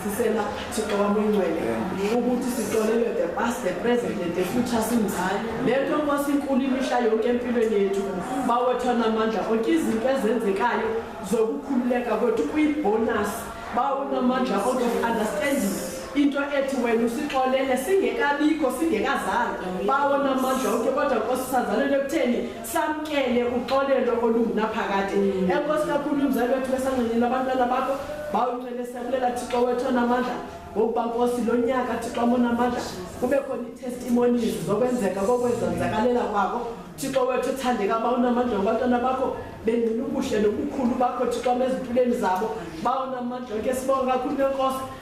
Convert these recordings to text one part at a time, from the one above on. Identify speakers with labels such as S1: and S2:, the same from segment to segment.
S1: sisela thixo wam oyingcwele ukuthi sixolelwe the past the present and the future sinjalo le nto nkosi inkulu imihla yonke empilweni yethu bawethu anamandla onke izinto ezenzekayo zokukhululeka kwethu kuyibonus bawunamandla out of understanding into ethi wena usixolele singekabikho singekazali bawona amandla onke kodwa nkosi sazalelwe ekutheni samkele uxolelo olungunaphakade mm. enkosi kakhulu umzali wethu besancenela abantwana bakho bawuncele siyakulela thixo wethu onamandla ngokuba nkosi lo nyaka thixo amonamandla kube khona ii-testimonies zokwenzeka kokwezenzakalela kwako thixo wethu uthandeka ba unamandla ngabantwana bakho bengcina ubuhle nobukhulu bakho thixo amezimpilweni zabo ba unamandla ke sibonga kakhulu nenkosi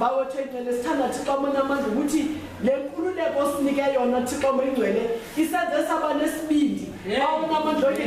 S1: Bawethu engcwele sithanda Thixo amanye amandla ukuthi le nkululeko osinike yona Thixo omengcwele isenze saba nesibindi bawona amandla onke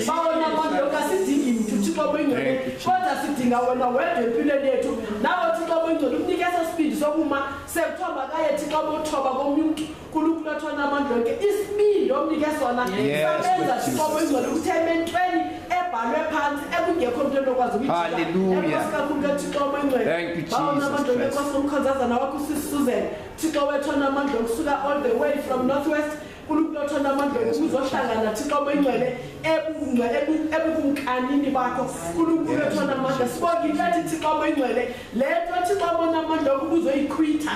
S1: bawona amandla onke asidingi mntu Thixo omengcwele kodwa sidinga wena wedwa empilweni yethu nawe Thixo omengcwele ukunike eso sibindi sokuma sekuthiwa makaye Thixo bothoba komnye umntu uNkulunkulu athona abantu lonke isibindi omnike sona sabenza siqobo izolo ukuthi ementweni ebhalwe phansi ekungekho mntu enokwazi ukuyikakhulu kathixo omengcwelebawona abantu
S2: lonke nkosi
S1: nomkhonzazana wakho usisuzen thixo wethona amandla okusuka all the way from north west unkulunkulu othanda amandla uzohlangana thixo obengcwele ebukumkanini bakho unkulunkulu othanda amandla sibonge inhlathi thixo obengcwele le nto thixo abona amandla okubuzoyikhwitha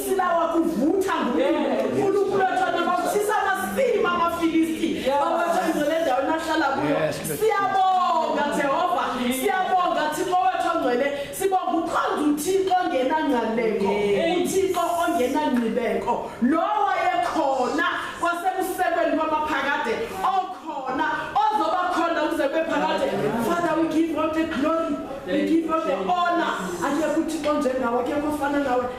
S1: silawa kuvutha ngunkulunkulu wethona bavutisa amasima amafilisti babatha izo le ndawo nahlala kuyo siyabonga jehova siyabonga thixo wethu ongcwele sibonga ukhonza uthixo ongenangcaneko uthixo ongenangqibeko lowo wayekhona kwasebusekweni kwamaphakade okhona ozoba khona ukuze kube phakade father we give all the glory we give all the honor akekho uthixo njengawe akekho ofana nawe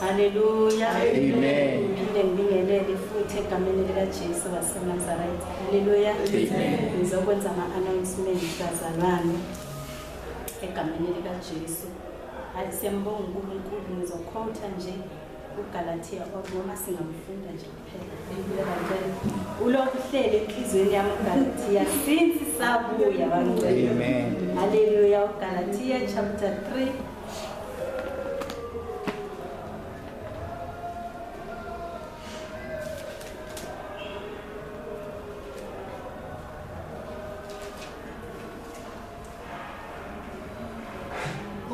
S3: Haleluya. Amen. Ngiphinde ngibingelele futhi egameni likaJesu waseNazaretha. Haleluya. Amen. Ngizokwenza ama-announcement bazalwane egameni likaJesu. Hayi siyambonga uNkulunkulu ngizokhotha nje uGalatia or noma singamfunda nje. ulokhu uhlele enhliziyweni yami ugalatiya since sabuya bangcela Amen. haleluya ugalatiya chapter 3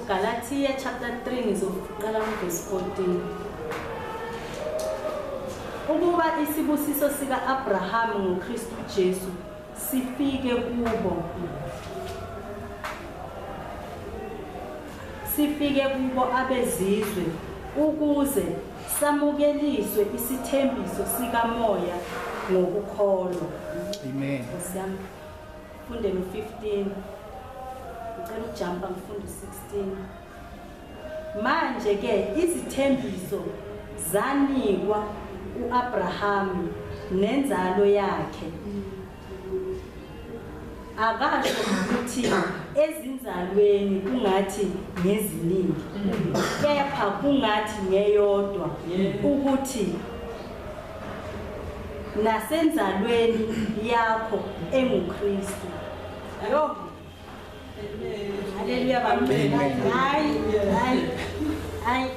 S3: Galatia chapter 3 ngizoqala kuverse 14 ukuba isibusiso sika-abrahama ngokristu jesu sifike kubo sifike kubo abezizwe ukuze samukeliswe isithembiso sikamoya ngokukholwa amen Ngifunde no 15. Ngicela ukujumpa ngifunde 16. Manje ke izithembiso zanikwa uAbraham nenzalo yakhe. Akasho ukuthi ezinzalweni kungathi ngeziningi kepha kungathi ngeyodwa ukuthi nasenzalweni yakho enguKristu yo haleluya bamncela hayi hayi hayi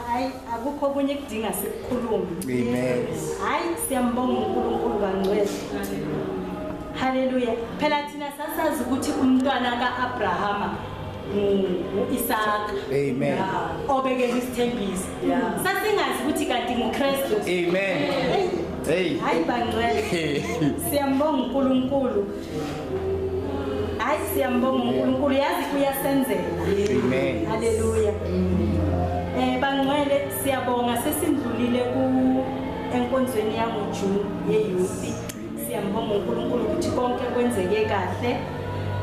S3: hayi akukho okunye kudinga sikukhulume amen
S2: hayi
S3: siyambonga uNkulunkulu kangcwele haleluya phela thina sasazi ukuthi umntwana kaAbrahama uIsaka amen
S2: obekele
S3: isithembiso sasingazi ukuthi kanti ngukristu amen
S2: hey hayi bangcwele
S3: siyambonga uNkulunkulu hayi siyambonga uNkulunkulu yazi kuyasenzela amen
S2: haleluya
S3: eh bangcwele siyabonga sesindlulile ku enkonzweni yangoJune yeyouth Siyambonga uNkulunkulu ukuthi konke kwenzeke kahle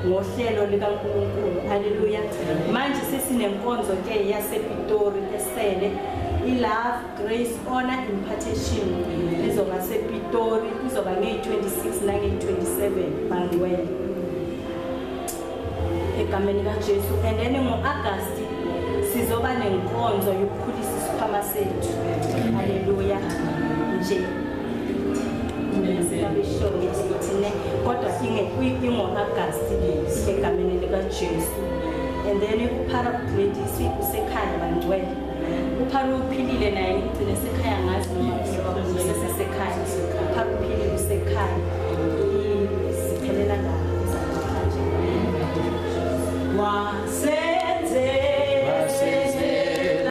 S3: ngohlelo likaNkulunkulu. Haleluya. Manje sesinemkonzo ke yasePitori esele i-Love Grace Honor Impartation izoba sePitori izoba ngeyi-26 nangeyi-27 Bangiwele. egameni likaJesu and then ngo-Agasti sizoba nenkonzo yokukhulisa isikhwama sethu haleluya nje abeshonge sithine kodwa ingo-agasti egameni likajesu and then uphara udlwedisi usekhaya bangcwele Upharu uphilile naye ngigcine sekhaya ngazi noma usesekhaya. Upharu uphilile usekhaya. Siphelela la. Wasenze